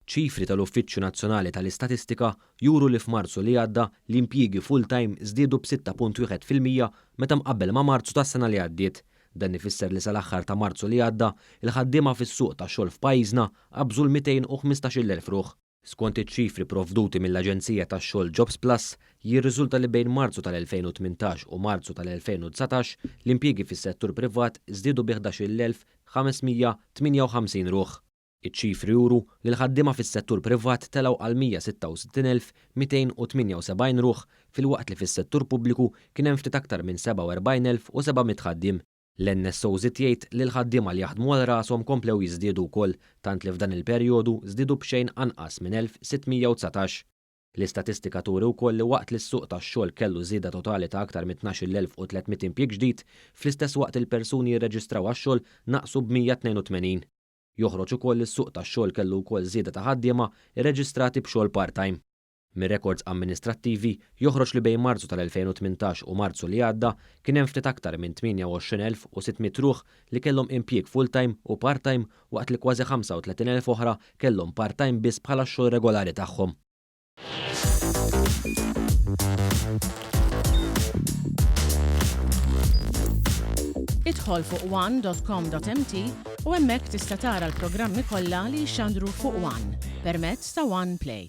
Ċifri tal-Uffiċċju Nazzjonali tal-Istatistika juru li f'Marzu li għadda l-impjiegi full-time żdiedu b'sitta punt wieħed fil-mija meta mqabbel ma' Marzu tas-sena li għaddiet. Dan ifisser li sal-aħħar ta' Marzu li għadda, il-ħaddiema fis-suq tax-xogħol f'pajjiżna qabżu l-215,000 ruħ. Skont iċ-ċifri provduti mill-aġenzija tax-xogħol Jobsplus, jirriżulta li bejn Marzu tal-2018 u Marzu tal-2019 l-impjiegi fis-settur privat żdiedu bi 11,558 ruħ. Iċ-ċifri juru li l-ħaddiema fis-settur privat telgħu għal 166,278 ruħ filwaqt li fis-settur pubbliku kien hemm ftit aktar minn 47,700 ħaddiem. L-NSO żied jgħid li l-ħaddiema li jaħdmu għal rashom komplew jiżdiedu wkoll tant li f'dan il-perjodu żdiedu b'xejn anqas minn 1,619. L-istatistika turi wkoll li waqt li s-suq tax-xogħol kellu żieda totali ta' aktar minn 12,300 impjieg ġdid, fl-istess waqt il-persuni li rreġistraw għax-xogħol naqsu b'182. Joħroġ ukoll li s-suq tax-xogħol kellu wkoll żieda ta' ħaddiema rreġistrati b'xogħol part-time. Mir-rekords amministrattivi joħroġ li bejn Marzu tal-2018 u Marzu li għadda kien hemm ftit aktar minn 28,600 ruħ li kellhom impjieg full-time u part-time waqt li kważi 35,000 oħra kellhom part-time biss bħala x-xogħol regolari tagħhom. Idħol fuq one dot com dot mt u hemmhekk tista' tara l-programmi kollha li jxandru fuq one permezz ta' one play.